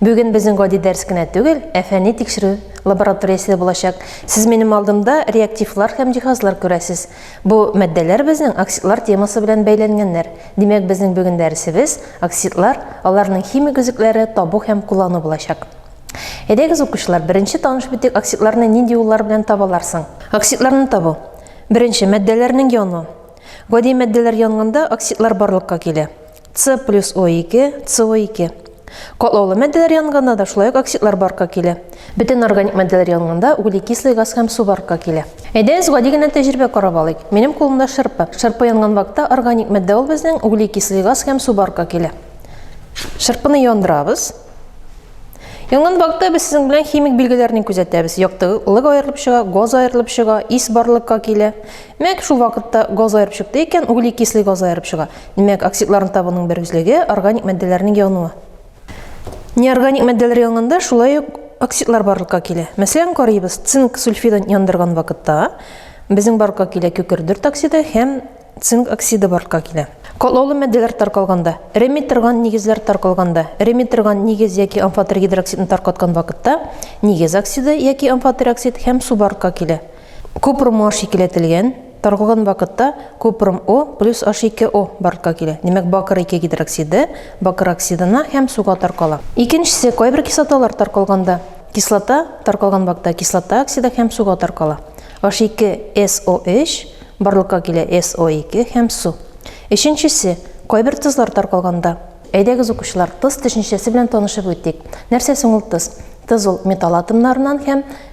Бүген безнең гади дәрс кенә түгел, ә фәнни тикшерү лабораториясе дә булачак. Сез минем алдымда реактивлар һәм җиһазлар күрәсез. Бу матдәләр безнең оксидлар темасы белән бәйләнгәннәр. Димәк, безнең бүген дәресебез оксидлар, аларның химик өзекләре, табу һәм куллану булачак. Әйдәгез, укучылар, беренче таныш битек оксидларны нинди юллар белән табалар соң? Оксидларны табу. Беренче, матдәләрнең яну. Гади матдәләр янганда оксидлар барлыкка килә. С плюс О2, СО2. Катлаулы матдәләр янганда да шулай ук оксидлар барка килә. Бөтен органик матдәләр янганда углекислый газ һәм су барка килә. Әйдәгез гади генә тәҗрибә карап алыйк. Минем кулымда шырпы. Шырпы янган вакытта органик матдә ул безнең углекислый газ һәм су барка килә. Шырпыны яндырабыз. Янган вакытта без сезнең белән химик билгеләрне күзәтәбез. Яктылык аерылып чыга, газ аерылып чыга, ис барлыкка килә. Мәк шул вакытта газ аерып чыкты икән, углекислый газ аерып чыга. Димәк, оксидларны табуның бер үзлеге органик матдәләрнең януы. Неорганик матдәләр янганда шулай ук оксидлар барлыкка килә. Мәсәлән, карыйбыз, цинк сульфидын яндырган вакытта безнең барлыкка килә кекердерт оксиды һәм цинк оксиды барлыкка килә. Катлаулы матдәләр таркалганда, эреми торган нигезләр таркалганда, эреми торган нигез яки амфотер гидроксидны таркаткан вакытта нигез оксиды яки амфотер оксид һәм су барлыкка килә. Купрумар шикеләтелгән Торггын вакытта купрум О плюс аш ике О бартка килә, димәк бакыр ике гидроксиды бакыр оксидына һәм суга таркала. Икенчесе, кайбер кислоталар таркалганда, кислота таркалган вакытта кислота оксида һәм суга таркала. Аш ике СО өч барлыкка килә СО ике һәм су. Өченчесе, кайбер тозлар таркалганда. Әйдәгез укучылар, тоз төшенчәсе белән танышып үтик. Нәрсә соң ул тоз? Тоз ул металл атомнарыннан һәм.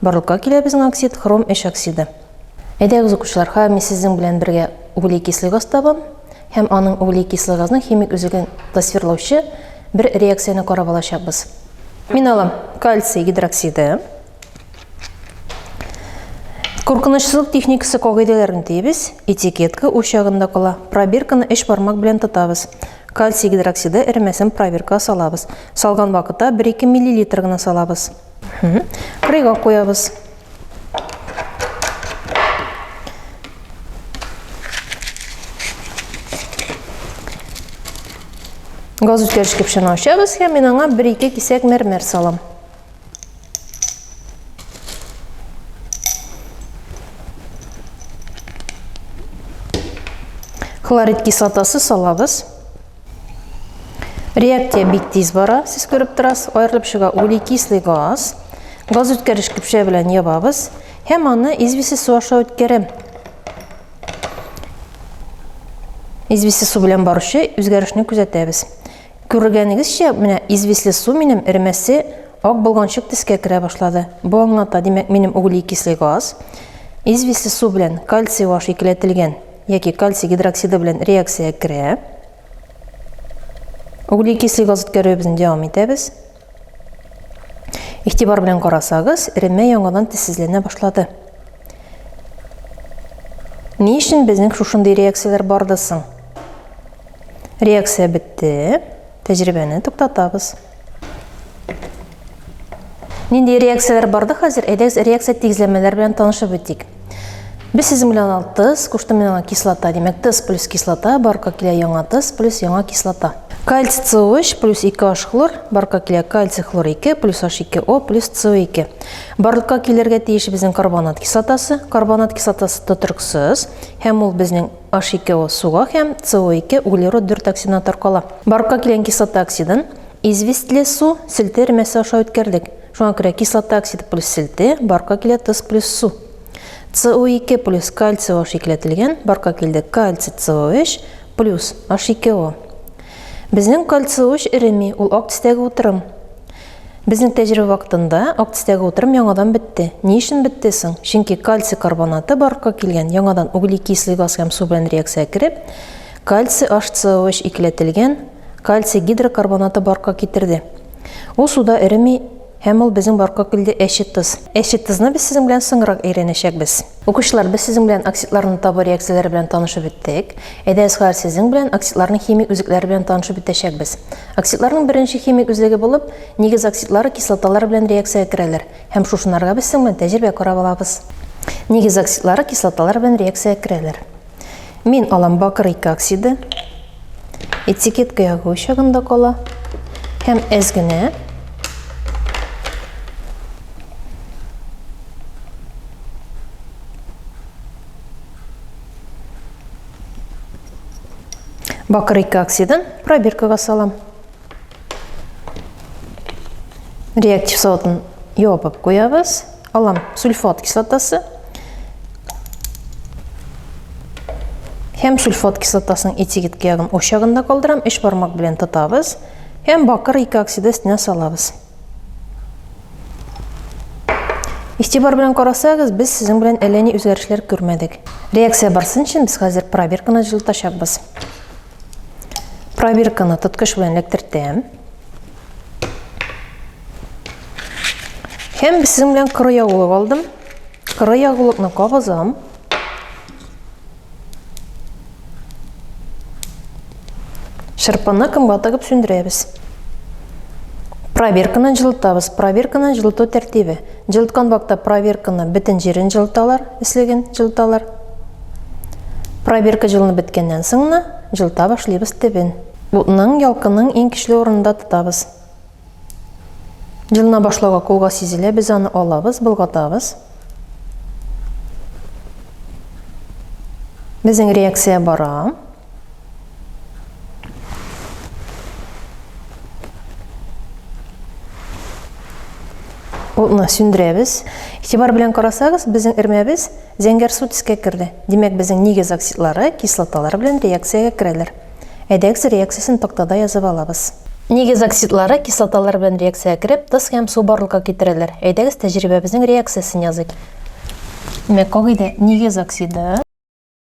Барлыкка килә безнең оксид, хром өч оксиды. Әйдәгез, укучылар, хәер мин сезнең белән бергә углекислый газ табам һәм аның углекислый газның химик үзеген тасвирлаучы бер реакцияне карап алачакбыз. Мин алам кальций гидроксиды. Куркынычсызлык техникасы кагыйдәләрен тиебез, этикетка уч ягында кала, пробирканы өч бармак белән тотабыз. Кальций гидроксиды эремәсен пробиркага салабыз. Салган вакытта бер-ике миллилитр гына салабыз. Кырыйга куябыз. Газ үткәргеч кепшәне ачабыз һәм мин аңа 1-2 кисәк мәрмәр салам. Хлорид кислотасы салабыз. Реакция бик тиз бара, сез күреп торасыз, аерылып чыга углекислый газ. Газ үткәреш көпшә белән ябабыз һәм аны известье су аша үткәрәм. Известье су белән баручы үзгәрешне күзәтәбез. Күргәнегезчә, менә известье су минем эремәсе ак болганчык тискә керә башлады. Бу аңлата, димәк, минем углекислый газ известье су белән кальций ваш икеләтелгән. яки кальций гидроксиды белән реакциягә керә. Углекислый газ үткәрүебезне дәвам итәбез. Игътибар белән карасагыз, эремә яңадан тезсезләнә башлады. Ни өчен безнең шушындый реакцияләр барды соң? Реакция бетте. Тәҗрибәне туктатабыз. Нинди реакцияләр барды хәзер? Әйдәгез реакция тигезләмәләр белән танышып үтик. Без сезнең белән алып тыз, кушты мин аңа кислота, димәк тыз плюс кислота, барка килә яңа тыз плюс яңа кислота. Кальций CO3 плюс 2 H хлор, барка килә кальций хлор 2 плюс H2O плюс CO2. Барлыкка килергә тиеш безнең карбонат кислотасы, карбонат кислотасы тотрыксыз һәм ул безнең H2O суга һәм CO2 углерод бер токсинга таркала. Барлыкка килгән кислота оксидын известьле су селте эремәсе аша үткәрдек. Шуңа күрә кислота оксиды плюс селте, барлыкка килә тоз плюс су. CO2 плюс кальций OH икеләтелгән, барлыкка килде кальций CO3 плюс H2O. Безнең кальций OH эреми, ул ак төстәге утырым. Безнең тәҗрибә вакытында Актистәге утырым яңадан бетте. Ни өчен бетте соң? Чөнки кальций карбонаты барлыкка килгән, яңадан углекислый газ һәм су белән реакциягә кереп, кальций HCO3 икеләтелгән кальций гидрокарбонаты барлыкка китерде. Ул суда эреми һәм ул безнең барлыкка килде әче тоз. Әче тозны без сезнең белән соңрак өйрәнәчәкбез. Укучылар, без сезнең белән оксидларны табу реакцияләре белән танышып беттек. Әйдә, Әсгар, сезнең белән оксидларның химик үзлекләре белән танышып бетәчәкбез. Оксидларның беренче химик үзлеге булып, нигез оксидлары кислоталар белән реакциягә керәләр, һәм шушынарга без сезнең белән тәҗрибә карап алабыз. Нигез оксидлары кислоталар белән реакциягә керәләр. Мин алам бакыр ике оксиды. Этикетка ягу чагында кала. Һәм әз генә. Бакыр ике оксидын пробиркага салам. Реактив савытын ябып куябыз. Алам сульфат кислотасы. Һәм сульфат кислотасының этикетка ягын очагында калдырам, эш бармак белән тотабыз һәм бакыр ике оксиды өстенә салабыз. Истибар белән карасагыз, без сезнең белән әллә ни үзгәрешләр күрмәдек. Реакция барсын өчен без хәзер пробирканы җылытачакбыз. Пробирканы тоткыч белән эләктертәм. Һәм сезнең белән коры ягулык алдым. Коры ягулыкны кабызам. Шырпыны кымга тыгып сүндерәбез. Пробирканы җылытабыз. Пробирканы җылыту тәртибе. Җылыткан вакытта проверканы бөтен җирен җылыталар, өслеген җылыталар. Проверка җылынып беткәннән соң гына җылыта башлыйбыз төбен. Утның, ялкынның иң көчле урынында тотабыз. Җылына башлауга кулга сизелә, без аны алабыз, болгатабыз. Безнең реакция бара. Утны сүндерәбез. Игътибар белән карасагыз, безнең эрмәбез зәңгәр су төскә керде. Димәк, безнең нигез оксидлары кислоталар белән реакциягә керәләр. Әйдәгез реакциясен тактада язып алабыз. Нигез оксидлары кислоталар белән реакциягә кереп, тос һәм су барлыкка китерәләр. Әйдәгез тәҗрибәбезнең реакциясен языйк. Димәк, кагыйдә нигез оксиды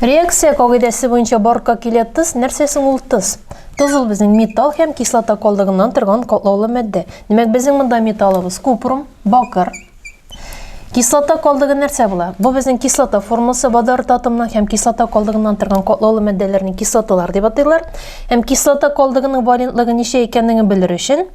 Реакция кагыйдәсе буенча барка килә тыз, нәрсә соң ул тыз? Тыз ул безнең металл һәм кислота калдыгыннан торган катлаулы матдә. Димәк, безнең монда металлыбыз купрум, бакыр. Кислота калдыгы нәрсә була? Бу безнең кислота формасы водород татымның һәм кислота калдыгыннан торган катлаулы матдәләрне кислоталар дип атыйлар. Һәм кислота калдыгының валентлыгы ничә икәнлеген белер өчен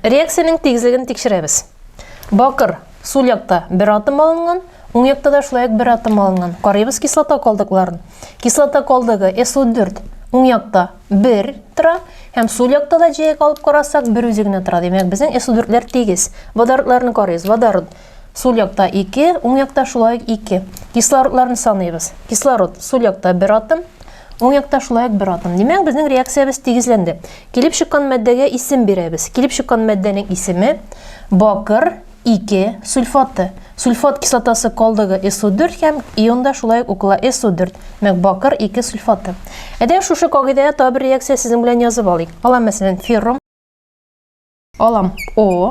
Реакциянең тигезлеген тикшерәбез. Бакыр, сул якта бер атом алынган, уң якта да шулай ук бер атом алынган. Карыйбыз кислота калдыкларын. Кислота калдыгы SO4 уң якта бер тора, һәм сул якта да җәяк алып карасак, бер үзе генә тора. Димәк, безнең SO4-ләр тигез. Водородларны карыйбыз. Водород Сул якта 2, уң якта шулай ук 2. Кислородларны саныйбыз. Кислород сул якта 1 атом, уң якта шулай ук 1 атом. Димәк, безнең реакциябез тигезләнде. Килеп чыккан матдәгә исем бирәбез. Килеп чыккан матдәнең исеме бакыр 2 сульфаты. Сульфат кислотасы калдыгы SO4 һәм ионда шулай ук укыла SO4. Мәк бакыр 2 сульфаты. Әдә шушы кагыйдәгә табер реакция сезнең белән язып алыйк. Алам мәсәлән феррум. Алам О.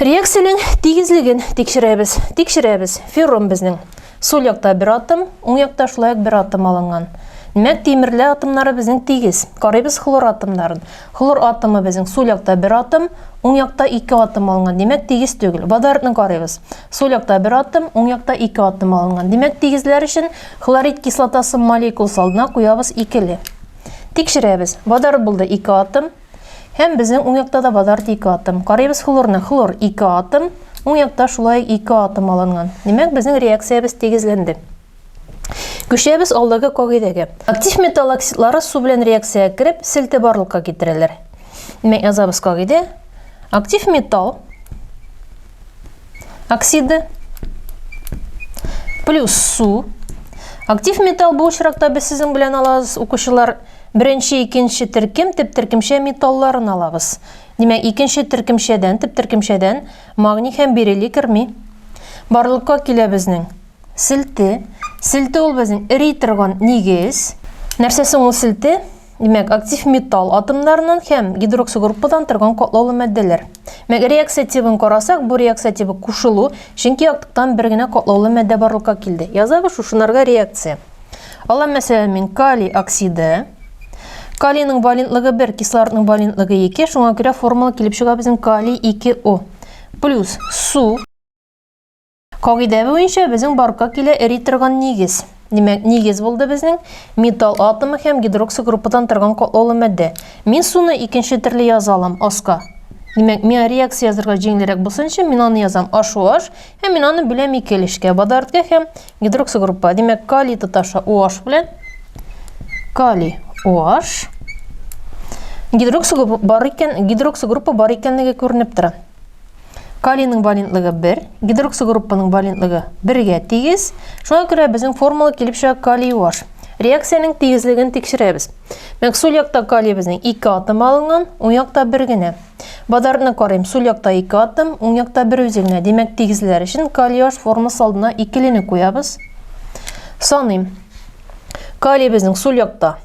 Реакциянең тигезлеген тикшерәбез. Тикшерәбез. Ферром безнең. Сул якта бер атом, уң якта шулай бер атом алынган. Димәк, тимерле атомнары безнең тигез. Карыйбыз хлор атомнарын. Хлор атомы безнең сул якта бер атом, уң якта ике атом алынган. Димәк, тигез түгел. Водородны карыйбыз. Сул якта бер атом, уң якта ике атом алынган. Димәк, тигезләр өчен хлорид кислотасы молекуласы алдына куябыз икеле. Тикшерәбез. Водород булды ике атом, Һәм безнең уң якта да базарда ике атом. Карыйбыз хлорны. Хлор ике атом. Уң якта шулай ике атом алынган. Димәк, безнең реакциябез тигезләнде. Күчәбез алдагы кагыйдәгә. Актив металл оксидлары су белән реакциягә кереп, селте барлыкка китерәләр. Димәк, язабыз кагыйдә. Актив металл оксиды плюс су. Актив металл бу очракта без сезнең белән алабыз, укучылар, беренче, икенче төркем, тип төркемчә металларын алабыз. Димәк, икенче төркемчәдән, тип төркемчәдән магний һәм берилий керми. Барлыкка килә безнең селте. Селте ул безнең эри торган нигез. Нәрсә соң ул селте? Димәк, актив металл атомнарыннан һәм гидроксигруппадан торган катлаулы мәддәләр. Мәк реакция тибын карасак, бу реакция тибы кушылу, чөнки яктыктан бер генә катлаулы мәддә барлыкка килде. Язабыз шушынарга реакция. Алам мәсәлән мин калий оксиды. Калийның валентлыгы 1, кислородның валентлыгы 2, шуңа күрә формула килеп чыга безнең калий 2О. Плюс су. Кагыйдә буенча безнең барка килә эри торган нигез. Димәк, нигез булды безнең металл атомы һәм гидроксигруппадан торган катлаулы матдә. Мин суны икенче төрле яза алам, аска. Димәк, миңа реакция язырга җиңелрәк булсын өчен мин аны язам HOH һәм мин аны бүләм ике өлешкә, водородка һәм гидроксигруппа. Димәк, калий тоташа OH белән калий OH гидроксигруппа бар икән, гидроксигруппа бар икәнлеге күренеп тора. Калийның валентлыгы 1, гидроксигруппаның валентлыгы 1-гә тигез. Шуңа күрә безнең формула килеп чыга калий UH. Реакциянең тигезлеген тикшерәбез. Мәк сул якта калиебезнең 2 атом алынган, уң якта бер генә. Водородны карыйм, сул якта 2 атом, уң якта бер үзе генә. Димәк, тигезләр өчен калий UH формасы алдына икелене куябыз. Саныйм. Калиебезнең сул якта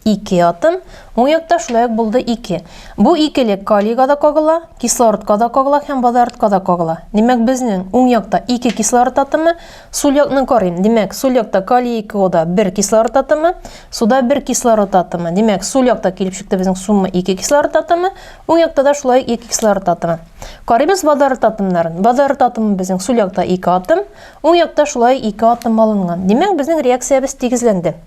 Ике атом, уң якта шулай ук булды ике. Бу икелек калийга да кагыла, кислородка да кагыла һәм водородка да кагыла. Димәк, безнең уң якта ике кислород атомы, сул якны карыйм. Димәк, сул якта калий 2 ода бер кислород атомы, суда бер кислород атомы. Димәк, сул якта килеп чыкты безнең сумма ике кислород атомы, уң якта да шулай ике кислород атомы. Карыйбыз водород атомнарын. Водород атомы безнең сул якта ике атом, уң якта шулай ике атом алынган. Димәк, безнең реакциябез тигезләнде.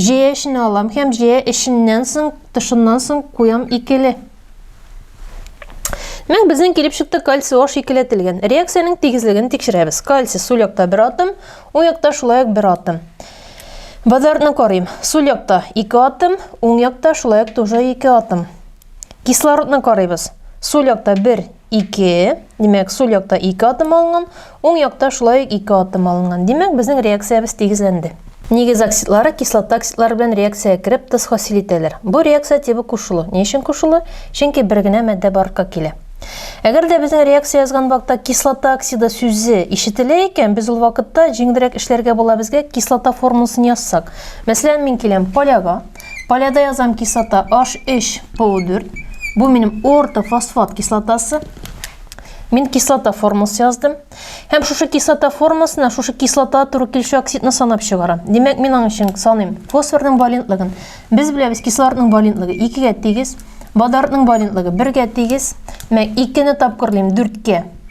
Җәя эченә алам һәм җәя эченнән соң, тышыннан соң куям икеле. Мәк безнең килеп чыкты кальций аш икеләтелгән. Реакциянең тигезлеген тикшерәбез. Кальций сул якта бер атом, уң якта шулай ук бер атом. Водородны карыйм. Сул якта ике атом, уң якта шулай ук тоже ике атом. Кислородны карыйбыз. Сул якта бер, 2. Димәк, сул якта 2 атом алынган, уң якта шулай ук 2 атом алынган. Димәк, безнең реакциябез тигезләнде. Нигез оксидлары кислота оксидлары белән реакциягә кереп тоз хасил итәләр. Бу реакция тибы кушылу. Ни өчен кушылу? Чөнки бер генә матдә барлыкка килә. Әгәр дә безнең реакция язган вакытта кислота оксиды сүзе ишетелә икән, без ул вакытта җиңелрәк эшләргә була безгә кислота формуласын язсак. Мәсәлән, мин киләм поляга, Поляда язам кислота H3 PO4. Бу минем ортофосфат кислотасы. Мин кислота формасы яздым. Һәм шушы кислота формасына шушы кислота туры килүче оксидны санап чыгарам. Димәк, мин аның өчен саныйм. Фосфорның валентлыгын. Без беләбез, кислородның валентлыгы 2 гә тигез, водородның валентлыгы 1 гә тигез. Мәк 2 не тапкырлыйм 4 кә.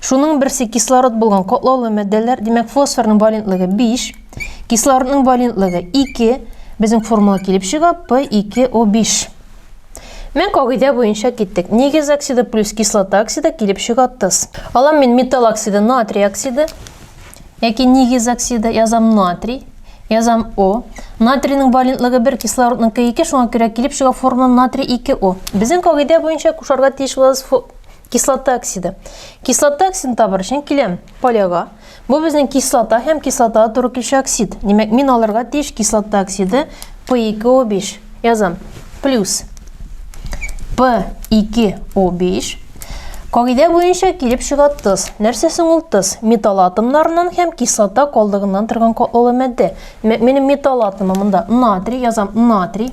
Шуның берсе кислород булган котлаулы мәддәләр, димәк фосфорның валентлыгы 5, кислородның валентлыгы 2, безнең формула килеп чыга P2O5. Мен кагыйдә буенча киттек. Нигез оксиды плюс кислота оксиды килеп чыга тыз. Алам мин металл оксиды, натрий оксиды, яки нигез оксиды, язам натрий, язам О. Натрийның валентлыгы 1, кислородның 2, шуңа күрә килеп чыга формула натрий 2О. Безнең кагыйдә буенча кушарга тиеш булабыз Кислота оксиды. Кислота оксидын табар өчен киләм поляга. Бу безнең кислота һәм кислотага туры килүче оксид. Димәк, мин алырга тиеш кислота оксиды P2O5. Язам. Плюс P2O5 Кагыйдә буенча килеп чыга тыз. Нәрсә соң ул тыз? Металл атомнарыннан һәм кислота калдыгыннан торган катлаулы матдә. Димәк, минем металл атомы монда натрий, язам натрий.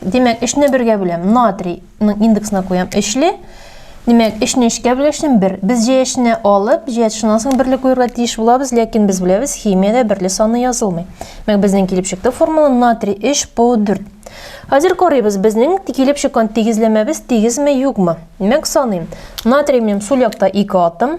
Димәк, өчне бергә бүләм. Натрийның индексына куям өчле. Димәк, өчне өчкә бүләшем бер. Без җәяшне алып, җәяш шуннан соң берле куярга тиеш булабыз, ләкин без беләбез, химиядә берле саны язылмый. Димәк, безнең килеп чыкты формула натрий 3 по 4. Хәзер карыйбыз, безнең килеп чыккан тигезләмәбез тигезме, юкмы. Димәк, саныйм. Натрий минем сул якта 2 атом.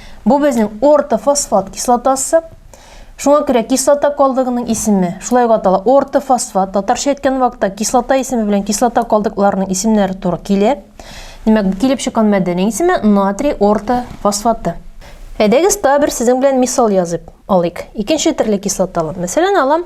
Бу безнең ортофосфат кислотасы. Шуңа күрә кислота калдыгының исеме шулай ук атала ортофосфат. Татарча әйткән вакытта кислота исеме белән кислота калдыкларының исемнәре туры килә. Димәк, бу килеп чыккан мәдәнең исеме натрий ортофосфаты. Әйдәгез, тагы бер сезнең белән мисал язып алыйк. Икенче төрле кислоталы. Мәсәлән, алам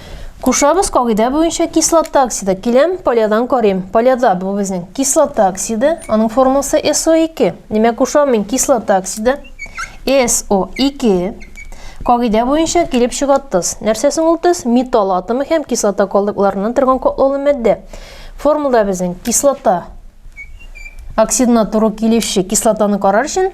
Кушабыз кагыйдә буенча кислота оксиды. Киләм, полядан карыйм. Поляда бу безнең кислота оксиды. Аның формуласы SO2. Димәк, кушам мин кислота оксиды. SO2. Кагыйдә буенча килеп чыга тоз. Нәрсә соң ул тоз? Металл атомы һәм кислота калдыкларыннан торган котлаулы матдә. Формулада безнең кислота оксидына туры килүче кислотаны карар өчен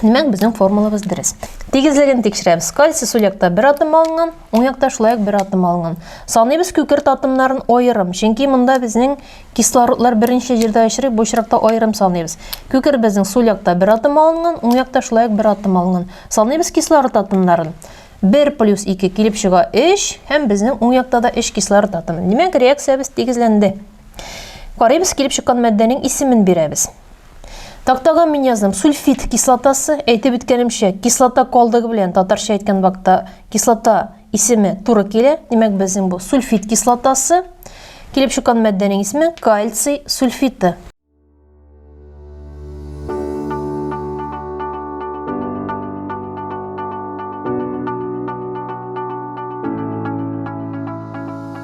Димәк, безнең формулабыз дөрес. Тигезлеген тикшерәбез. Кальций сул якта бер атом алынган, уң якта шулай ук бер атом алынган. Саныйбыз күкерт атомнарын аерым, чөнки монда безнең кислородлар беренче җирдә очрый, бу очракта аерым саныйбыз. Күкерт безнең сул якта бер атом алынган, уң якта шулай ук бер атом алынган. Саныйбыз кислород атомнарын. 1 плюс 2 килеп чыга 3, һәм безнең уң якта да 3 кислород атомы. Димәк, реакциябез тигезләнде. Карыйбыз, килеп чыккан матдәнең исемен бирәбез. Тактага мин яздым сульфид кислотасы, әйтеп үткәнемчә, кислота калдыгы белән татарча әйткән вакытта кислота исеме туры килә. Димәк, безнең бу сульфид кислотасы. Килеп чыккан матдәнең исеме кальций сульфиты.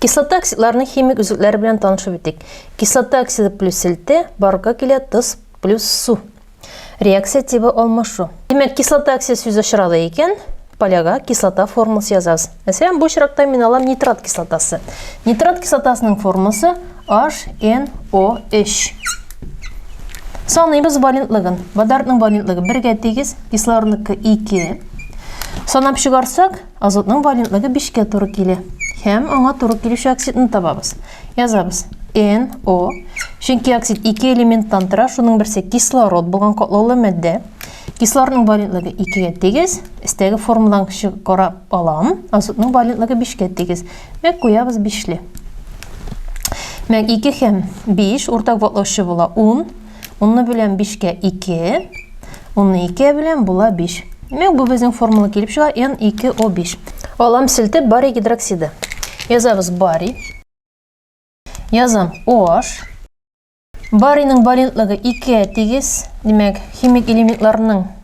Кислота оксидларының химик өзекләре белән танышып үтик. Кислота оксиды плюс селте, барга килә тоз плюс су. Реакция тибы алмашу. Димәк, кислота оксиды сүз очрады икән, поляга кислота формуласы язабыз. Мәсәлән, бу очракта мин алам нитрат кислотасы. Нитрат кислотасының формуласы HNO3. Саныйбыз валентлыгын. Водородның валентлыгы 1 тигез, кислородныкы 2. Санап чыгарсак, Азотның валентлыгы бишкә туры килә. Һәм аңа туры килүче оксидны табабыз. Язабыз. NO. Чөнки оксид ике элементтан тора, шуның берсе кислород булган катлаулы матдә. Кислородның валентлыгы икегә тигез. Өстәге формуладан карап алам. Азотның валентлыгы бишкә тигез. Мәк куябыз бишле. Мәк ике һәм биш уртак ватлаучы була ун. Унны белән бишкә ике. Унны икегә белән була биш. Димәк, бу безнең формула килеп чыга н ике о биш. Алам селтеп барий гидроксиды. Язабыз барий. Язам OH. Барийның валентлыгы икегә тигез. Димәк, химик элементларның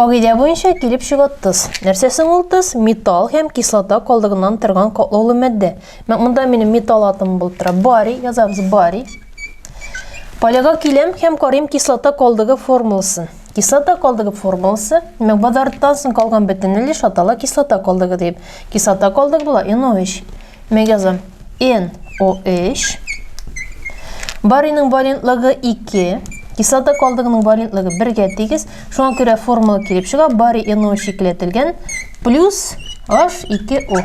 Кагыйдә буенча килеп чыга тыз. Нәрсә соң ул тыз? Металл һәм кислота калдыгыннан торган катлаулы матдә. Монда минем металл атомы булып тора. Барий, язабыз барий. Поляга киләм һәм карыйм кислота калдыгы формуласын. Кислота калдыгы формуласы, димәк, базарттан соң калган бөтен өлеш атала кислота калдыгы дип. Кислота калдыгы була NO3. Мә язам. NO3. Бариның валентлыгы 2. Кислота калдыгының валентлыгы 1-гә тигез. Шуңа күрә формула килеп чыга. Бари NO3 икеләтелгән плюс H2O.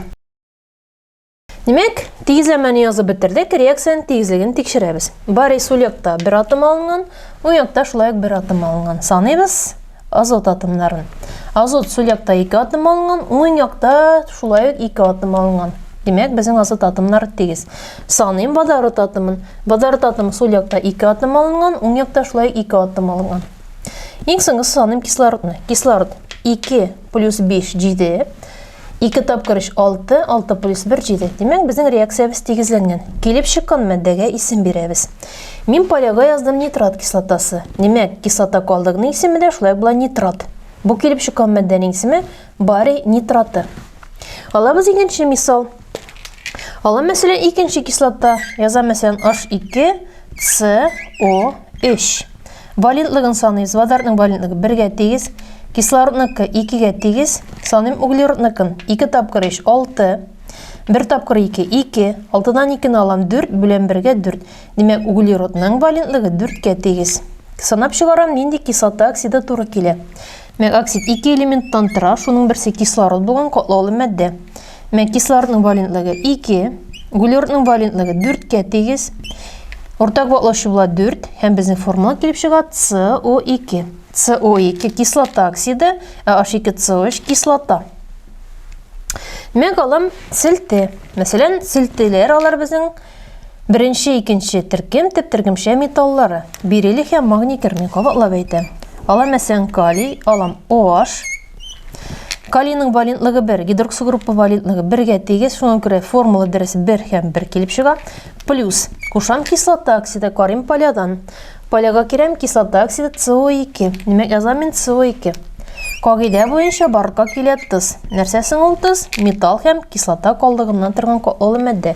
Димәк, тигезләмәне язып бетердек, реакциянең тигезлеген тикшерәбез. Бари сул якта бер атом алынган, уң якта шулай ук бер атом алынган. Саныйбыз. Азот атомнарын. Азот сул якта ике атом алынган, уң якта шулай ук ике атом алынган. Димәк, безнең азот атомнары тигез. Саныйм водород атомын. Водород атомы сул якта ике атом алынган, уң якта шулай ук ике атом алынган. Иң соңгысы саныйм кислородны. Кислород 2 плюс 5 7. 2 тапкыр 3, 6, 6 плюс 1, 7. Димәк, безнең реакциябез тигезләнгән. Килеп чыккан мәддәгә исем бирәбез. Мин полега яздым нитрат кислотасы. Димәк, кислота калдыгының исеме дә шулай була нитрат. Бу килеп чыккан мәддәнең исеме барий нитраты. Алабыз икенче мисал. Ала мәсәлән икенче кислота. Яза мәсәлән H2CO3. Валентлыгын саныйбыз. Водородның валентлыгы бергә тигез, кислородныкы икегә тигез. Саныйм углеродныкын. Ике тапкыр өч, алты. Бер тапкыр ике, ике. Алтыдан икене алам, дүрт белән бергә дүрт. Димәк, углеродның валентлыгы дүрткә тигез. Санап чыгарам, нинди кислота оксиды туры килә. Мегоксид ике элементтан тора, шуның берсе кислород булган катлаулы матдә. Мә кислородның валентлыгы 2, углеродның валентлыгы 4-кә тигез. Уртак ватлаучы була 4 һәм безнең формула килеп чыга CO2. CO2 кислота оксиды, ә H2CO3 кислота. Мәк алым селте. Мәсәлән, селтеләр алар безнең Беренче, икенче төркем төп төркемчә металлары, бериллий һәм магний кермен кабатлап әйтә. Алам әсән калий, алам OH. Калийның валентлыгы 1, гидроксогруппа валентлыгы 1-гә тигез, шуңа күрә формула дөрес 1 һәм 1 килеп чыга. Плюс, кушам кислота оксиды карим полядан. Поляга керәм кислота оксиды CO2, димәк әзамин CO2. Кагыйдә буенча барырга килә тыз. Нәрсә соң ул тыз? Металл һәм кислота калдыгыннан торган катлаулы матдә.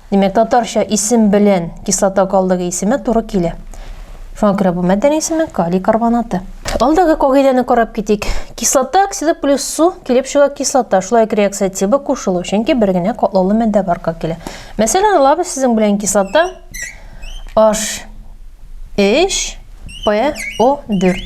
Димәк, татарча исем белән кислота калдыгы исеме туры килә. Шуңа күрә бу мәддәнең исеме калий карбонаты. Алдагы кагыйдәне карап китик. Кислота оксиды плюс су килеп чыга кислота. Шулай ук реакция тибы кушылу, чөнки бер генә катлаулы мәддә барка килә. Мәсәлән, алабыз сезнең белән кислота H3PO4.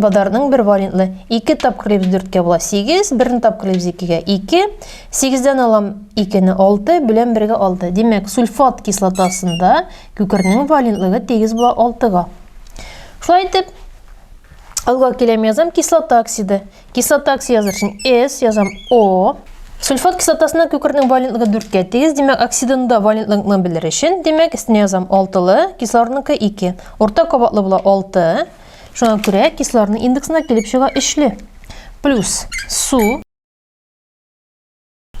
Бадарның бер валентлы. Ике тапкыр ибз дүрткә була. Сигез, берне тапкыр ибз икегә. Ике. Сигездән алам икене алты, белән бергә алты. Димәк, сульфат кислотасында күкернең валентлыгы тигез була алтыга. Шулай итеп, алга киләм язам кислота оксиды. Кислота оксиды языр өчен S язам O. Сульфат кислотасына күкернең валентлыгы дүрткә тигез, димәк, оксидында валентлыгны белер өчен, димәк, өстенә язам алтылы, кислородныкы ике. Урта кабатлы була алты. Шуңа күрә кислородның индексына килеп чыга өчле. Плюс су.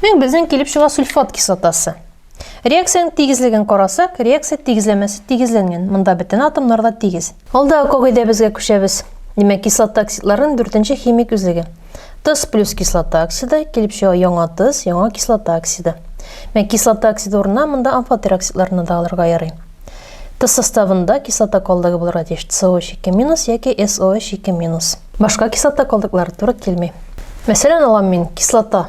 Мен безнең килеп чыга сульфат кислотасы. Реакцияның тигезлеген карасак, реакция тигезләмәсе тигезләнгән. Монда бөтен атомнар да тигез. Алдагы кагыйдәбезгә күчәбез. Димәк, кислота оксидларының дүртенче химик үзлеге. Тыз плюс кислота оксиды килеп чыга яңа тыз, яңа кислота оксиды. Мен кислота оксиды урынына монда амфотер оксидларны да алырга ярый. Тыз составында кислота калдыгы булырга тиеш COH2- яки SOH2-. Башка кислота калдыклары туры килми. Мәсәлән, алам мин кислота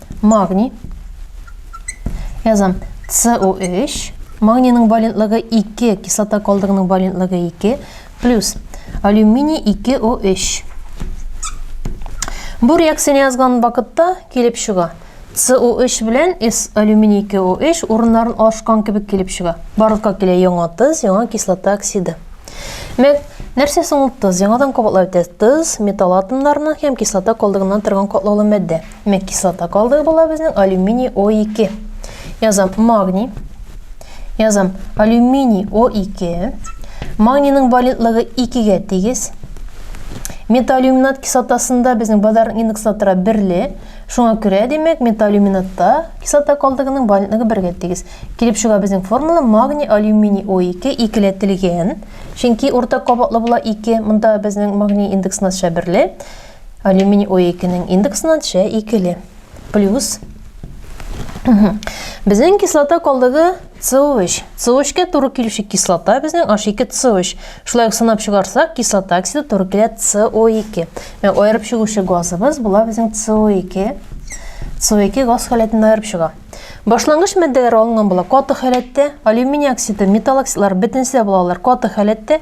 Магний. Язам. СО3. Магнийның валентлыгы 2, кислота калдыгының валентлыгы 2, плюс алюминий 2О3. Бу реакцияне язган вакытта килеп чыга. СО3 белән С алюминий 2О3 урыннарын ашкан кебек килеп чыга. Барлыкка килә яңа тыз, яңа кислота оксиды. Мәк, нәрсә соң ул тыз? Яңадан кабатлап үтә. Тыз, металл атомнарының һәм кислота калдыгыннан торган катлаулы матдә. Димәк, кислота калдыгы була безнең алюминий О2. Язам магний. Язам алюминий О2. Магнийның валентлыгы 2-гә тигез. Металлюминат кислотасында безнең базарның индекслы тора берле. Шуңа күрә, димәк, металлюминатта кислота калдыгының валентлыгы бергә тигез. Килеп чыга безнең формула магний алюминий О2 икеләтелгән. Чөнки урта кабатлы була 2. Монда безнең магний индекс нача берле. Алюминий О2-нең индексына төшә икеле. Плюс. Безнең кислота калдыгы CO3. CO3-кә туры килүче кислота безнең H2CO3. Шулай ук сынап чыгарсак, кислота оксиды туры килә CO2. Ә аерып чыгучы газыбыз була безнең CO2. CO2 газ халәтендә аерып чыга. Башлангыч матдәләр алынган була каты халәттә, алюминий оксиды, металл оксидлары бөтенесе булалар каты халәттә,